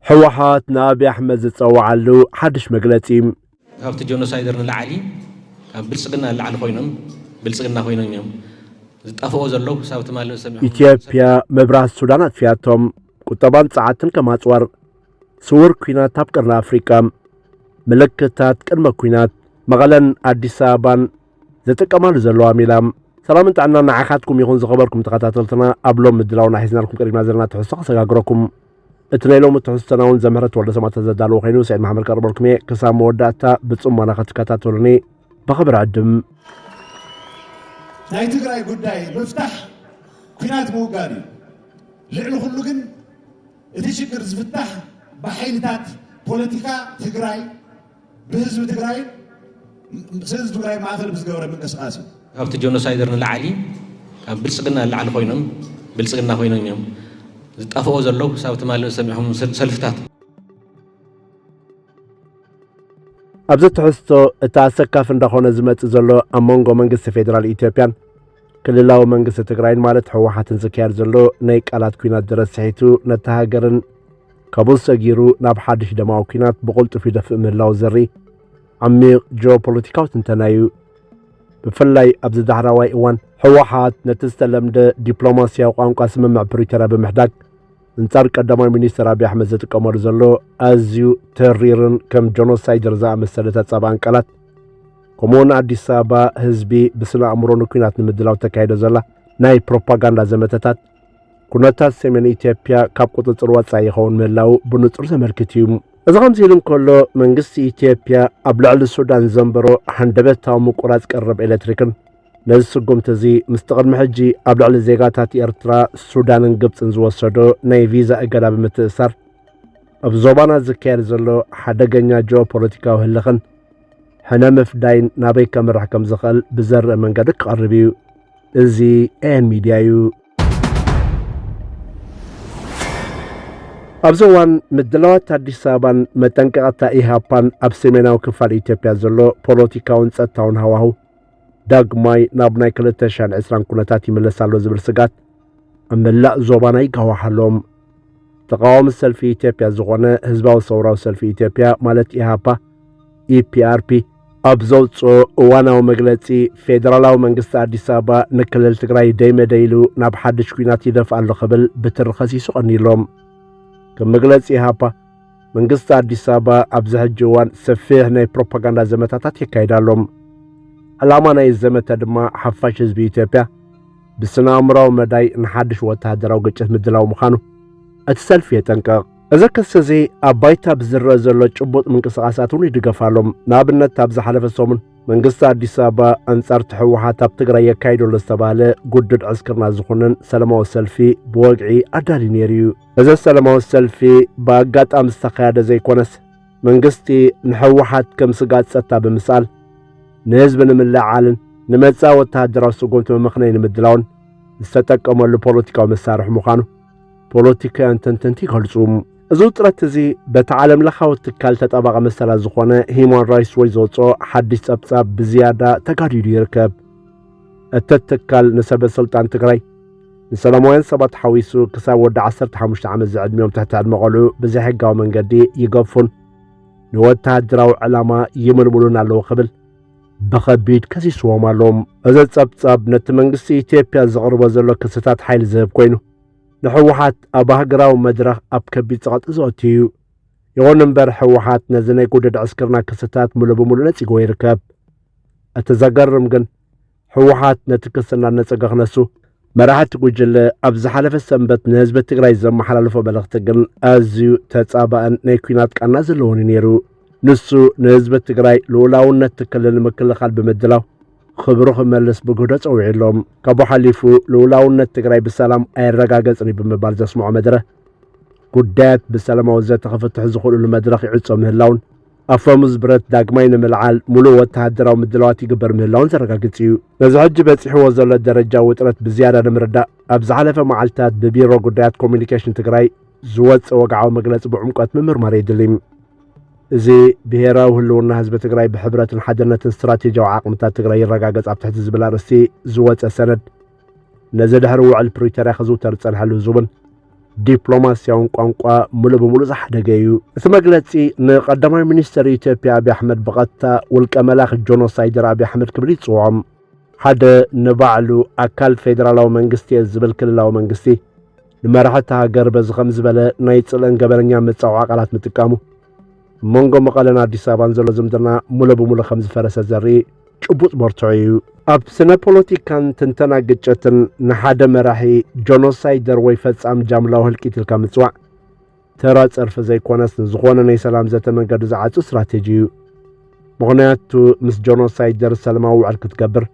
ህወሓት ንኣብይ ኣሕመድ ዝፀወዓሉ ሓዱሽ መግለፂ። ካብቲ ጆኖሳይደር ንላዓሊ ካብ ብልፅግና ንላዕሊ ኮይኖም ብልፅግና ኮይኖም እዮም ዝጣፍኦ ዘለው ክሳብ ትማሊ ዝሰሚዕኹም ኢትዮጵያ መብራት ሱዳን ኣጥፊያቶም ቁጠባን ጸዓትን ከም ኣጽዋር ስውር ኩናት ኣብ ቀርኒ ኣፍሪቃ ምልክታት ቅድመ ኩናት መቐለን ኣዲስ ኣበባን ዝጥቀማሉ ዘለዋ ሜላ ሰላምን ጥዕና ንዓኻትኩም ይኹን ዝኸበርኩም ተኸታተልትና ኣብ ሎም ምድላውና ሒዝናልኩም ቀሪብና ዘለና ትሕዝቶ ከሰጋግረኩም እቲ ናይ ሎሚ ትሕዝቶና እውን ዘምህረት ወልደ ሰማእታት ዘዳለዎ ኮይኑ ስዒድ መሓመድ ከቕርበልኩም እየ ክሳብ መወዳእታ ብፅሞና ክትከታተሉኒ ብኽብሪ ዕድም ናይ ትግራይ ጉዳይ ምፍታሕ ኩናት ምውጋድ እዩ ልዕሊ ኩሉ ግን እቲ ሽግር ዝፍታሕ ብሓይልታት ፖለቲካ ትግራይ ብህዝቢ ትግራይ ህዝቢ ትግራይ ማእኸል ብዝገበረ ምንቅስቃስ እዩ። ካብቲ ጆኖሳይደር ንላዕሊ ካብ ብልፅግና ንላዕሊ ኮይኖም ብልፅግና ኮይኖም እዮም ዝጣፍኦ ዘሎ ክሳብ ትማሊ ዝሰሚዕኹም ሰልፍታት ኣብዚ ትሕዝቶ እቲ ኣሰካፊ እንዳኾነ ዝመፅእ ዘሎ ኣብ መንጎ መንግስቲ ፌዴራል ኢትዮጵያን ክልላዊ መንግስቲ ትግራይን ማለት ህወሓትን ዝካየድ ዘሎ ናይ ቃላት ኩናት ድረስ ስሒቱ ነቲ ሃገርን ካብኡ ሰጊሩ ናብ ሓድሽ ደማዊ ኲናት ብቕልጡፍ ይደፍእ ምህላዉ ዘርኢ ዓሚቕ ጂኦፖለቲካዊ ትንተና እዩ። ብፍላይ ኣብዚ ዳሕራዋይ እዋን ህወሓት ነቲ ዝተለምደ ዲፕሎማስያዊ ቋንቋ ስምምዕ ፕሪቶርያ ብምሕዳግ እንጻር ቀዳማይ ሚኒስትር ኣብዪ ኣሕመድ ዝጥቀመሉ ዘሎ ኣዝዩ ተሪርን ከም ጆኖሳይደር ዝኣመሰለ ተጻብኣን ቃላት ከምኡውን ኣዲስ ኣበባ ህዝቢ ብስነ ኣእምሮ ንኲናት ንምድላው ተካይዶ ዘላ ናይ ፕሮፓጋንዳ ዘመተታት ኩነታት ሰሜን ኢትዮጵያ ካብ ቁፅፅር ወፃኢ ይኸውን ምህላዉ ብንፁር ዘመልክት እዩ። እዚ ከምዚ ኢሉ እንከሎ መንግስቲ ኢትዮጵያ ኣብ ልዕሊ ሱዳን ዘንበሮ ሃንደበታዊ ምቁራፅ ቀረብ ኤሌክትሪክን ነዚ ስጉምቲ እዚ ምስቲ ቅድሚ ሕጂ ኣብ ልዕሊ ዜጋታት ኤርትራ፣ ሱዳንን ግብፅን ዝወሰዶ ናይ ቪዛ እገዳ ብምትእስሳር ኣብ ዞባና ዝካየድ ዘሎ ሓደገኛ ጂኦፖለቲካዊ ህልኽን ሕነ ምፍዳይን ናበይ ከምርሕ ከም ዝኽእል ብዘርእ መንገዲ ክቐርብ እዩ። እዚ ኤኤን ሚድያ እዩ። ኣብዚ እዋን ምድላዋት ኣዲስ ኣበባን መጠንቀቕታ ኢህኣፓን ኣብ ሰሜናዊ ክፋል ኢትዮጵያ ዘሎ ፖለቲካውን ጸጥታውን ሃዋህው ዳግማይ ናብ ናይ 2020 ኩነታት ይመለስ ኣሎ ዝብል ስጋት ኣብ መላእ ዞባና ይጋዋሓሎም ተቃዋሚ ሰልፊ ኢትዮጵያ ዝኾነ ህዝባዊ ሰውራዊ ሰልፊ ኢትዮጵያ ማለት ኢህኣፓ ኢፒኣርፒ ኣብ ዘውፅኦ እዋናዊ መግለፂ ፌዴራላዊ መንግስቲ ኣዲስ ኣበባ ንክልል ትግራይ ደይ መደይ ኢሉ ናብ ሓድሽ ኲናት ይደፍ ኣሎ ክብል ብትሪ ኸሲሱ ቐኒሎም ከም መግለፂ ኢሃፓ መንግስቲ ኣዲስ ኣበባ ኣብዚ ሕጂ እዋን ሰፊሕ ናይ ፕሮፓጋንዳ ዘመታታት የካይድ ኣሎ። ዕላማ ናይ ዘመተ ድማ ሓፋሽ ህዝቢ ኢትዮጵያ ብስነ ኣእምራዊ መዳይ ንሓድሽ ወተሃደራዊ ግጭት ምድላው ምዃኑ እቲ ሰልፊ የጠንቅቕ። እዚ ክሲ እዚ ኣብ ባይታ ብዝረአ ዘሎ ጭቡጥ ምንቅስቓሳት እውን ይድገፍ ኣሎ። ንኣብነት ኣብ ዝሓለፈ ሰሙን መንግስቲ ኣዲስ ኣበባ ኣንጻርቲ ህወሓት ኣብ ትግራይ የካይዶ ኣሎ ዝተባህለ ጉድድ ዕስክርና ዝኹንን ሰለማዊ ሰልፊ ብወግዒ ኣዳልዩ ነይሩ እዩ። እዚ ሰለማዊ ሰልፊ ብኣጋጣሚ ዝተኻየደ ዘይኮነስ መንግስቲ ንህወሓት ከም ስጋት ጸጥታ ብምስኣል ንህዝቢ ንምልዕዓልን ንመጻኢ ወተሃደራዊ ስጉምቲ መመኽነይ ንምድላውን ዝተጠቀመሉ ፖለቲካዊ መሳርሒ ምዃኑ ፖለቲካውያን ተንተንቲ ይገልጹ። እዚ ውጥረት እዚ በቲ ዓለም ለኻዊ ትካል ተጣባቒ መሰላት ዝኾነ ሂማን ራይትስ ዎች ዘውፅኦ ሓድሽ ጸብጻብ ብዝያዳ ተጋዲዱ ይርከብ። እቲ ትካል ንሰበ ስልጣን ትግራይ ንሰላማውያን ሰባት ሓዊሱ ክሳብ ወዲ 15 ዓመት ዝዕድሚኦም ትሕቲ ዕድመ ቆልዑ ብዘይሕጋዊ መንገዲ ይገፉን ንወተሃደራዊ ዕላማ ይምልምሉን ኣለዉ ክብል ብኸቢድ ከሲስዎም ኣሎ። እዚ ጸብጻብ ነቲ መንግስቲ ኢትዮጵያ ዘቕርቦ ዘሎ ክስታት ሓይሊ ዝህብ ኮይኑ ንሕወሓት ኣብ ሃገራዊ መድረኽ ኣብ ከቢድ ጸቕጢ ዘእቱ እዩ። ይኹን እምበር ሕወሓት ነዚ ናይ ጉድድ ዕስክርና ክስታት ምሉእ ብምሉእ ነጺጎ ይርከብ። እቲ ዘገርም ግን ሕወሓት ነቲ ክሲ እናነጸገ ክነሱ መራሕቲ ጉጅለ ኣብ ዝሓለፈ ሰንበት ንህዝቢ ትግራይ ዘመሓላለፎ መልእኽቲ ግን ኣዝዩ ተጻባእን ናይ ኩናት ቃና ዘለዎን እዩ ነይሩ። ንሱ ንህዝቢ ትግራይ ልኡላውነት ክልል ምክልኻል ብምድላው ኽብሩ ክመልስ ብግህዶ ጸዊዑሎም ካብኡ ሓሊፉ ልኡላውነት ትግራይ ብሰላም ኣይረጋገጽን ብምባል ዘስምዖ መድረ ጉዳያት ብሰላማዊ ዘተ ክፍትሑ ዝኽእሉሉ መድረኽ ይዕጾ ምህላውን ኣፈሙዝ ብረት ዳግማይ ንምልዓል ሙሉእ ወተሃደራዊ ምድላዋት ይግበር ምህላውን ዘረጋግጽ እዩ ነዚ ሕጂ በጺሕዎ ዘሎ ደረጃ ውጥረት ብዝያዳ ንምርዳእ ኣብ ዝሓለፈ መዓልትታት ብቢሮ ጉዳያት ኮሚኒኬሽን ትግራይ ዝወፀ ወግዓዊ መግለፂ ብዕምቆት ምምርማር የድልይ እዚ ብሄራዊ ህልውና ህዝቢ ትግራይ ብሕብረትን ሓድነትን ስትራቴጂያዊ ዓቕምታት ትግራይ ይረጋገጽ ኣብ ትሕቲ ዝብል ኣርእስቲ ዝወፀ ሰነድ ነዚ ድሕሪ ውዕል ፕሪቶርያ ክዝውተር ዝጸንሐሉ ህዝቡን ዲፕሎማስያውን ቋንቋ ሙሉእ ብምሉእ ዝሓደገ እዩ እቲ መግለጺ ንቀዳማይ ሚኒስትር ኢትዮጵያ ኣብዪ ኣሕመድ ብቐጥታ ውልቀ መላኺ ጆኖሳይደር ኣብዪ ኣሕመድ ክብል ይጽውዖም ሓደ ንባዕሉ ኣካል ፌደራላዊ መንግስቲ እየ ዝብል ክልላዊ መንግስቲ ንመራሒ እታ ሃገር በዚ ከም ዝበለ ናይ ጽልእን ገበነኛን መጻወዓ ቃላት ምጥቃሙ ኣብ መንጎ መቐለን ኣዲስ ኣበባን ዘሎ ዝምድና ሙሎ ብሙሎ ከም ዝፈረሰ ዘርኢ ጭቡጥ መርትዖ እዩ። ኣብ ስነ ፖለቲካን ትንተና ግጭትን ንሓደ መራሒ ጆኖሳይደር ወይ ፈጻሚ ጃምላዊ ህልቂት ኢልካ ምጽዋዕ ተራ ጸርፊ ዘይኮነስ ንዝኾነ ናይ ሰላም ዘተ መንገዲ ዝዓጹ ስትራቴጂ እዩ። ምኽንያቱ ምስ ጀኖሳይደር ሰላማዊ ውዕል ክትገብር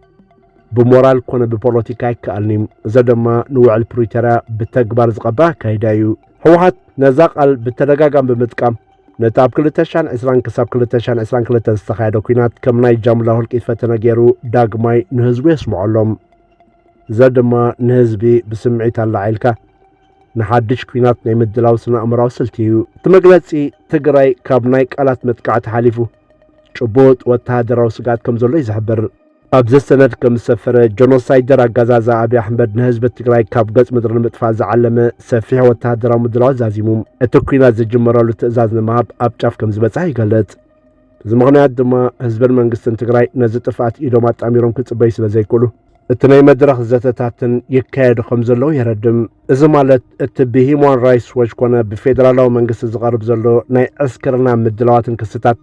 ብሞራል ኮነ ብፖለቲካ ኣይከኣልን እዩ። እዚ ድማ ንውዕል ፕሪቶርያ ብተግባር ዝቐበ ኣካይዳ እዩ። ህወሓት ነዛ ቃል ብተደጋጋሚ ብምጥቃም ነቲ ኣብ 220 ክሳብ 222 ዝተኻየደ ኩናት ከም ናይ ጃምላ ህልቂት ፈተነ ገይሩ ዳግማይ ንህዝቡ የስምዖሎም። እዚ ድማ ንህዝቢ ብስምዒት ኣላዒልካ ንሓድሽ ኩናት ናይ ምድላው ስነኣእምራዊ ስልቲ እዩ። እቲ መግለጺ ትግራይ ካብ ናይ ቃላት መጥቃዕቲ ሓሊፉ ጭቡጥ ወተሃደራዊ ስግኣት ከም ዘሎ እዩ ዝሕብር። ኣብዚ ሰነድ ከም ዝሰፈረ ጀኖሳይደር ኣጋዛዛ ኣብዪ ኣሕመድ ንህዝቢ ትግራይ ካብ ገጽ ምድሪ ንምጥፋእ ዝዓለመ ሰፊሕ ወተሃደራዊ ምድላው ዛዚሙ እቲ ኩናት ዝጅመረሉ ትእዛዝ ንምሃብ ኣብ ጫፍ ከም ዝበጽሐ ይገልጽ። እዚ ምኽንያት ድማ ህዝብን መንግስትን ትግራይ ነዚ ጥፍኣት ኢዶም ኣጣሚሮም ክጽበዩ ስለ ዘይክእሉ እቲ ናይ መድረኽ ዘተታትን ይካየዱ ከም ዘለዉ የረድም። እዚ ማለት እቲ ብሂማን ራይትስ ዎች ኮነ ብፌደራላዊ መንግስቲ ዝቐርብ ዘሎ ናይ ዕስክርና ምድላዋትን ክስታት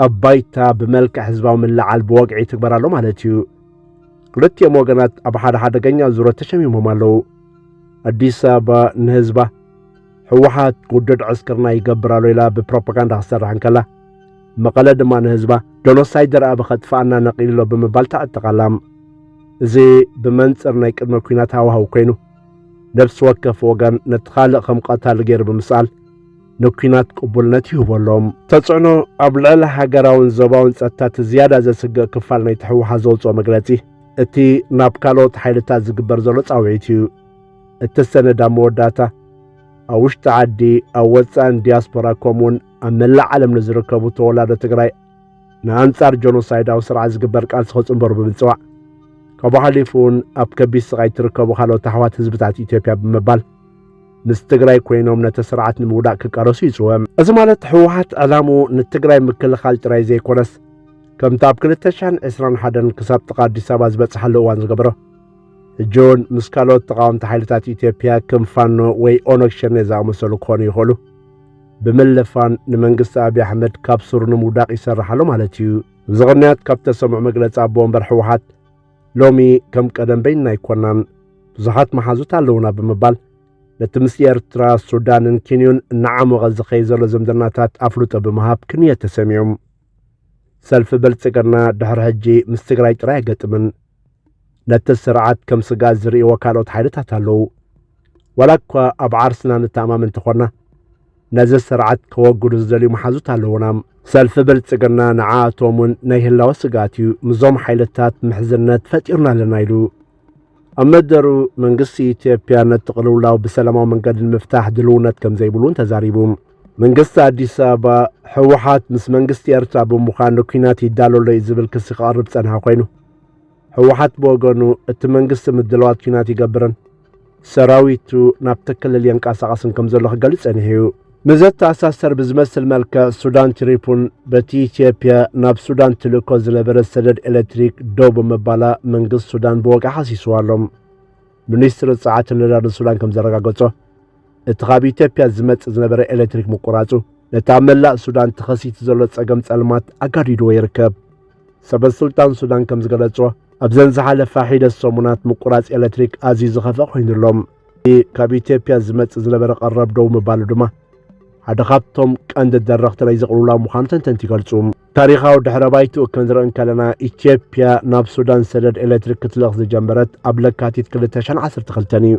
ኣብ ባይታ ብመልክዕ ህዝባዊ ምልዓል ብወግዒ ይትግበር ኣሎ ማለት እዩ። ክልቲኦም ወገናት ኣብ ሓደ ሓደገኛ ዙረት ተሸሚሞም ኣለዉ። ኣዲስ ኣበባ ንህዝባ ሕወሓት ውዱድ ዕስክርና ይገብር ኣሎ ኢላ ብፕሮፓጋንዳ ክሰርሕ እንከላ መቐለ ድማ ንህዝባ ጆኖሳይደር ኣብ ኸጥፍኣና ነቒልሎ ብምባል ተዕጥቓላ እዚ ብመንፅር ናይ ቅድመ ኩናት ሃዋህው ኮይኑ ነፍሲ ወከፍ ወገን ነቲ ካልእ ከም ቐታሊ ገይሩ ብምስኣል ንኩናት ቅቡልነት ይህቦ ኣሎም ተጽዕኖ ኣብ ልዕሊ ሃገራውን ዞባውን ጸጥታ እቲ ዝያዳ ዘስግእ ክፋል ናይ ትሕወሓት ዘውፅኦ መግለጺ እቲ ናብ ካልኦት ሓይልታት ዝግበር ዘሎ ጻውዒት እዩ እተሰነዳ መወዳእታ ኣብ ውሽጢ ዓዲ ኣብ ወፃእን ዲያስፖራ ከምኡውን ኣብ መላእ ዓለም ንዝርከቡ ተወላዶ ትግራይ ንኣንጻር ጆኖሳይዳዊ ስርዓት ዝግበር ቃልሲ ክጽንበሩ ብምጽዋዕ ካብኡ ሓሊፉ እውን ኣብ ከቢድ ስቓይ እትርከቡ ካልኦት ኣሕዋት ህዝብታት ኢትዮጵያ ብምባል ምስ ትግራይ ኮይኖም ነቲ ስርዓት ንምውዳቅ ክቃለሱ ይጽወ እዚ ማለት ህወሓት ዕላምኡ ንትግራይ ምክልኻል ጥራይ ዘይኮነስ ከምቲ ኣብ 221 ክሳብ ጥቓ ኣዲስ ኣበባ ዝበጽሓሉ እዋን ዝገበሮ ሕጂ እውን ምስ ካልኦት ተቓወምቲ ሓይልታት ኢትዮጵያ ከም ፋኖ ወይ ኦነግ ሸኔ ዝኣመሰሉ ክኾኑ ይኽእሉ ብምልፋን ንመንግስቲ ኣብዪ ኣሕመድ ካብ ሱሩ ንምውዳቕ ይሰርሕ ኣሎ ማለት እዩ። እዚ ቅንያት ካብ ተሰምዑ መግለፂ ኣቦ ወንበር ህወሓት ሎሚ ከም ቀደም በይንና ኣይኮናን ብዙሓት መሓዙት ኣለውና ብምባል ነቲ ምስ ኤርትራ ሱዳንን ኪንዩን እናዓሞቐ ዝኸይ ዘሎ ዝምድናታት ኣፍልጦ ብምሃብ ክንየት ተሰሚዑም ሰልፊ ብልጽግና ድሕሪ ሕጂ ምስ ትግራይ ጥራይ ኣይገጥምን ነቲ ስርዓት ከም ስጋት ዝርእይዎ ካልኦት ሓይልታት ኣለዉ ዋላ እኳ ኣብ ዓርስና ንተኣማመን እንተኾና ነዚ ስርዓት ከወግዱ ዝደልዩ መሓዙት ኣለዉና ሰልፊ ብልጽግና ንዓኣቶም እውን ናይ ህላወ ስግኣት እዩ ምዞም ሓይልታት ምሕዝነት ፈጢርና ኣለና ኢሉ ኣብ መደሩ መንግስቲ ኢትዮጵያ ነቲ ቅልውላው ብሰላማዊ መንገዲ ንምፍታሕ ድልውነት ከም ዘይብሉን ተዛሪቡ። መንግስቲ ኣዲስ ኣበባ ህወሓት ምስ መንግስቲ ኤርትራ ብምዃን ንኲናት ይዳሎ ኣሎ እዩ ዝብል ክሲ ክቐርብ ዝጸንሐ ኮይኑ ህወሓት ብወገኑ እቲ መንግስቲ ምድላዋት ኲናት ይገብርን ሰራዊቱ ናብቲ ክልል የንቀሳቐስን ከም ዘሎ ክገልጽ ጸኒሑ'ዩ። ንዘተኣሳሰር ብዝመስል መልክዕ ሱዳን ትሪፑን በቲ ኢትዮጵያ ናብ ሱዳን ትልእኮ ዝነበረት ሰደድ ኤሌክትሪክ ደው ብምባላ መንግስቲ ሱዳን ብወግዒ ሓሲስዋ ኣሎ። ሚኒስትሪ ጸዓትን ነዳድን ሱዳን ከም ዘረጋገጾ እቲ ካብ ኢትዮጵያ ዝመጽእ ዝነበረ ኤሌክትሪክ ምቁራጹ ነቲ ኣብ መላእ ሱዳን ተኸሲቱ ዘሎ ጸገም ጸልማት ኣጋዲድዎ ይርከብ። ሰበስልጣን ሱዳን ከም ዝገለጾ ኣብዘን ዝሓለፋ ሒደት ሰሙናት ምቁራጽ ኤሌክትሪክ ኣዝዩ ዝኸፍአ ኮይኑ ኣሎ። እቲ ካብ ኢትዮጵያ ዝመጽእ ዝነበረ ቀረብ ደው ምባሉ ድማ ሓደ ካብቶም ቀንዲ ደረኽቲ ናይዚ ቅልውላው ምዃኑ ተንተንቲ ይገልጹ። ታሪኻዊ ድሕረ ባይትኡ ክንርኢ እንከለና ኢትዮጵያ ናብ ሱዳን ሰደድ ኤሌክትሪክ ክትልእኽ ዝጀመረት ኣብ ለካቲት 2012 እዩ።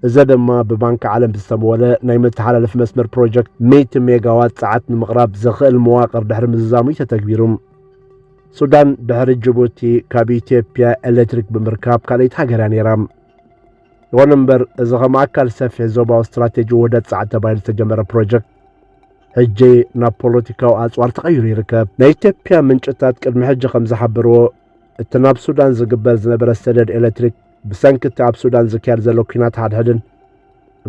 እዘ ደማ ብባንኪ ዓለም ዝተመወለ ናይ መተሓላለፊ መስመር ፕሮጀክት ሚእቲ ሜጋዋት ጸዓት ንምቕራብ ዘኽእል መዋቕር ድሕሪ ምዝዛሙ እዩ ተተግቢሩ። ሱዳን ድሕሪ ጅቡቲ ካብ ኢትዮጵያ ኤሌክትሪክ ብምርካብ ካልኣይቲ ሃገር እያ ነይራ። ይኹን እምበር እዚ ከም ኣካል ሰፊሕ ዞባዊ ስትራቴጂ ውህደት ጸዓት ተባሂሉ ዝተጀመረ ፕሮጀክት ሕጂ ናብ ፖለቲካዊ ኣጽዋር ተቐይሩ ይርከብ። ናይ ኢትዮጵያ ምንጭታት ቅድሚ ሕጂ ከም ዝሓበርዎ እቲ ናብ ሱዳን ዝግበር ዝነበረ ሰደድ ኤሌክትሪክ ብሰንኪ እቲ ኣብ ሱዳን ዝካየድ ዘሎ ኲናት ሓድሕድን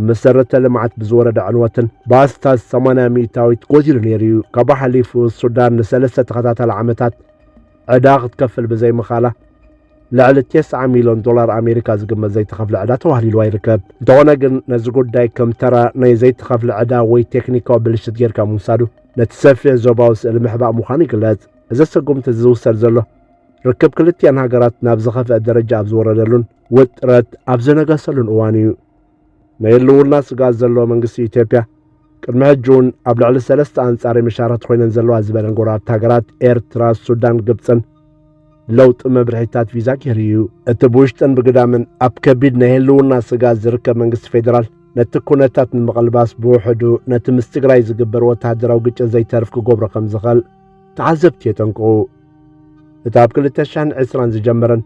መሰረተ ልምዓት ብዝወረደ ዕንወትን ብኣስታት 80 ሚእታዊት ጎዲሉ ነይሩ እዩ። ካብ ሓሊፉ ሱዳን ንሰለስተ ተኸታታሊ ዓመታት ዕዳ ክትከፍል ብዘይምኻላ ልዕሊ 90 ሚልዮን ዶላር ኣሜሪካ ዝግመት ዘይተኸፍለ ዕዳ ተዋህሊልዋ ይርከብ እንተኾነ ግን ነዚ ጉዳይ ከም ተራ ናይ ዘይተኸፍለ ዕዳ ወይ ቴክኒካዊ ብልሽት ጌርካ ምውሳዱ ነቲ ሰፊሕ ዞባዊ ስእሊ ምሕባእ ምዃኑ ይግለጽ እዚ ስጉምቲ ዝውሰድ ዘሎ ርክብ ክልቲኣን ሃገራት ናብ ዝኸፍአ ደረጃ ኣብ ዝወረደሉን ውጥረት ኣብ ዝነገሰሉን እዋን እዩ። ናይ ህልውና ስግኣት ዘለዎ መንግስቲ ኢትዮጵያ ቅድሚ ሕጂ እውን ኣብ ልዕሊ ሰለስተ ኣንጻሪ ምሻራት ኮይነን ዘለዋ ዝበለን ጎረባብቲ ሃገራት ኤርትራ፣ ሱዳን፣ ግብፅን ለውጢ መብርሒታት ቪዛ ገይሩ እዩ። እቲ ብውሽጥን ብግዳምን ኣብ ከቢድ ናይ ህልውና ስጋት ዝርከብ መንግስቲ ፌዴራል ነቲ ኩነታት ንምቕልባስ ብውሕዱ ነቲ ምስ ትግራይ ዝግበር ወተሃደራዊ ግጭት ዘይተርፍ ክገብሮ ከም ዝኽእል ተዓዘብቲ የጠንቅቑ። እቲ ኣብ 2020 ዝጀመረን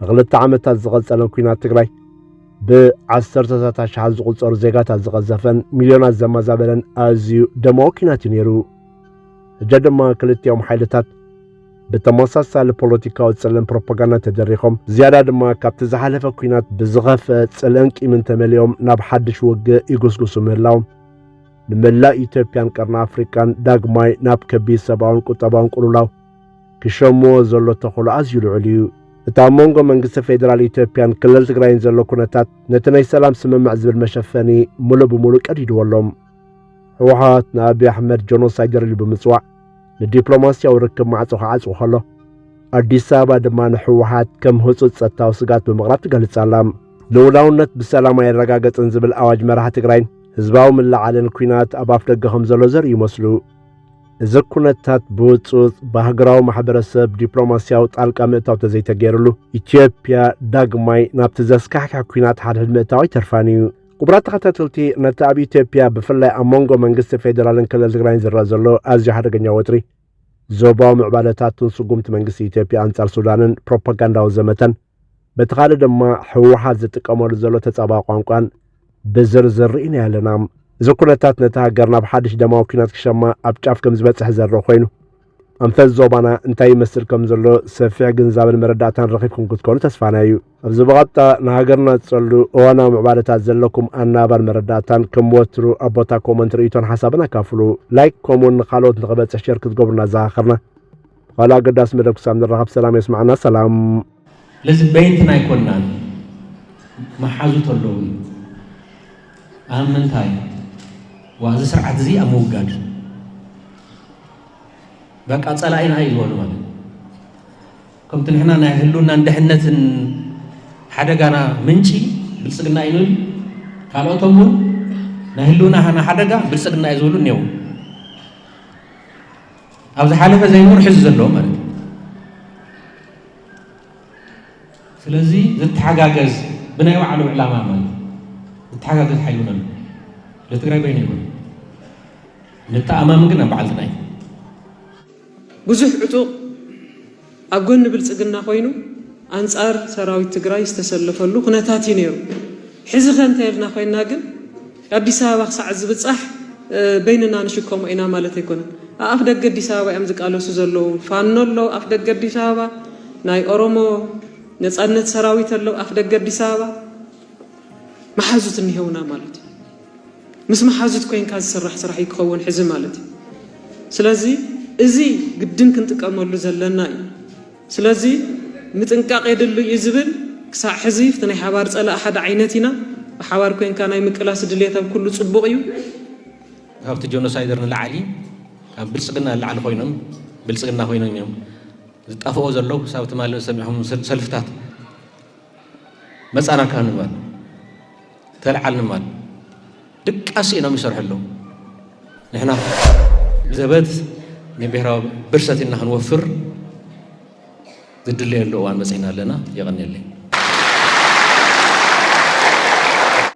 ንኽልተ ዓመታት ዝቐጸለን ኲናት ትግራይ ብዓሰርተታት ኣሽሓት ዝቝጸሩ ዜጋታት ዝቐዘፈን ሚልዮናት ዘመዛበለን ኣዝዩ ደማዊ ኲናት እዩ ነይሩ ሕጀ ድማ ክልቲኦም ሓይልታት ብተመሳሳሊ ፖለቲካዊ ጽልእን ፕሮፓጋንዳ ተደሪኾም ዝያዳ ድማ ካብቲ ዝሓለፈ ኲናት ብዝኸፍአ ጽልእን ቂምን ተመሊኦም ናብ ሓድሽ ውግእ ይጉስጉሱ ምህላዎም ንመላእ ኢትዮጵያን ቀርኒ ኣፍሪቃን ዳግማይ ናብ ከቢድ ሰብኣውን ቁጠባውን ቅልውላው ክሸምዎ ዘሎ ተኽእሎ ኣዝዩ ልዑል እዩ። እቲ ኣብ መንጎ መንግስቲ ፌደራል ኢትዮጵያን ክልል ትግራይን ዘሎ ኩነታት ነቲ ናይ ሰላም ስምምዕ ዝብል መሸፈኒ ምሉእ ብምሉእ ቀዲድዎ ኣሎ። ህወሓት ንኣብዪ ኣሕመድ ጀኖሳይደር ኢሉ ብምጽዋዕ ንዲፕሎማስያዊ ርክብ ማዕጾ ክዓጽው ከሎ ኣዲስ ኣበባ ድማ ንህወሓት ከም ህጹጽ ጸጥታዊ ስግኣት ብምቕራብ ትገልጻ ኣላ። ልኡላውነት ብሰላም ኣይረጋገጽን ዝብል ኣዋጅ መራሒ ትግራይን ህዝባዊ ምልዓልን ኩናት ኣብ ኣፍ ደገ ከም ዘሎ ዘርእዩ ይመስሉ። እዚ ኩነታት ብውጽውጽ ብሃገራዊ ማሕበረሰብ ዲፕሎማስያዊ ጣልቃ ምእታው ተዘይተገይርሉ ኢትዮጵያ ዳግማይ ናብቲ ዘስካሕክሕ ኩናት ሓድሕድ ምእታው ኣይተርፋን እዩ። ክቡራት ተኸታተልቲ ነቲ ኣብ ኢትዮጵያ ብፍላይ ኣብ መንጎ መንግስቲ ፌዴራልን ክልል ትግራይን ዝረአ ዘሎ ኣዝዩ ሓደገኛ ወጥሪ ዞባዊ ምዕባለታትን ስጉምቲ መንግስቲ ኢትዮጵያ ኣንጻር ሱዳንን ፕሮፓጋንዳዊ ዘመተን በቲ ካልእ ድማ ህወሓት ዝጥቀመሉ ዘሎ ተጻባ ቋንቋን ብዝርዝር ርኢናዮ ኣለና እዚ ኩነታት ነቲ ሃገር ናብ ሓድሽ ደማዊ ኩናት ክሸማ ኣብ ጫፍ ከም ዝበጽሕ ዘርኢ ኮይኑ ኣንፈት ዞባና እንታይ ይመስል ከም ዘሎ ሰፊሕ ግንዛብን መረዳእታን ረኺብኩም ክትኮኑ ተስፋና እዩ ኣብዚ ብቐጥታ ንሃገርና ዝጸሉ እዋናዊ ምዕባለታት ዘለኩም ኣናባን መረዳእታን ከም ወትሩ ኣብ ቦታ ኮመንት ርእይቶን ሓሳብን ኣካፍሉ ላይክ ከምኡውን ንካልኦት ንኽበጽሕ ሸር ክትገብሩና ኣዘኻኸርና ኻልእ ኣገዳሲ መደብ ክሳብ ንራኸብ ሰላም የስምዓና ሰላም። ስለዚ በይንትና ኣይኮናን መሓዙት ኣለዉኒ ኣብ ምንታይ ዋ እዚ ስርዓት እዚ ኣብ ምውጋድ በቃ ፀላኢና እዩ ዝበሉ ማለት ከምቲ ንሕና ናይ ህልውናን ድሕነትን ሓደጋና ምንጪ ብልፅግና እዩ ንብል ካልኦቶም እውን ናይ ህልውናና ሓደጋ ብልፅግና እዩ ዝብሉ እኒው ኣብ ዝሓለፈ ዘይኖር ሕዚ ዘለዎ ማለት እዩ ስለዚ ዝተሓጋገዝ ብናይ ባዕሉ ዕላማ ማለት ዝተሓጋገዝ ሓይሉ ነሎ ለትግራይ በይነ ይኮን ንተኣማምን ግን ኣብ በዓልትና እዩ ብዙሕ ዕጡቕ ኣብ ጎኒ ብልፅግና ኮይኑ ኣንፃር ሰራዊት ትግራይ ዝተሰለፈሉ ኩነታት እዩ ነይሩ። ሕዚኸ እንተይልና ኮይና ግን ኣዲስ ኣበባ ክሳዕ ዝብፃሕ በይንና ንሽከሞ ኢና ማለት ኣይኮነን። ኣኣፍ ደገ ኣዲስ ኣበባ እዮም ዝቃለሱ ዘለዉ። ፋኖ ኣሎ ኣፍ ደገ ኣዲስ ኣበባ፣ ናይ ኦሮሞ ነፃነት ሰራዊት ኣሎ ኣፍ ደገ ኣዲስ ኣበባ፣ መሓዙት እኒሀውና ማለት እዩ። ምስ መሓዙት ኮይንካ ዝስራሕ ስራሕ እዩ ክኸውን ሕዚ ማለት እዩ ስለዚ እዚ ግድን ክንጥቀመሉ ዘለና እዩ ስለዚ ምጥንቃቅ የድሉ እዩ ዝብል ክሳዕ ሕዚ እቲ ናይ ሓባር ጸላእ ሓደ ዓይነት ኢና ብሓባር ኮይንካ ናይ ምቅላስ ድልየት ኣብ ኩሉ ጽቡቅ እዩ ካብቲ ጆኖሳይደር ንላዕሊ ካብ ብልፅግና ንላዕሊ ኮይኖም ብልፅግና ኮይኖም እዮም ዝጣፍኦ ዘለው ክሳብ ትማሊ ዝሰሚዕኹም ሰልፍታት መፃና ካንባል ተልዓል ንማል ድቃስ ኢኖም ይሰርሑ ኣለዉ ንሕና ዘበት ንብሔራዊ ብርሰት ኢና ክንወፍር ዝድለየሉ እዋን መፅና ኣለና የቐኒለይ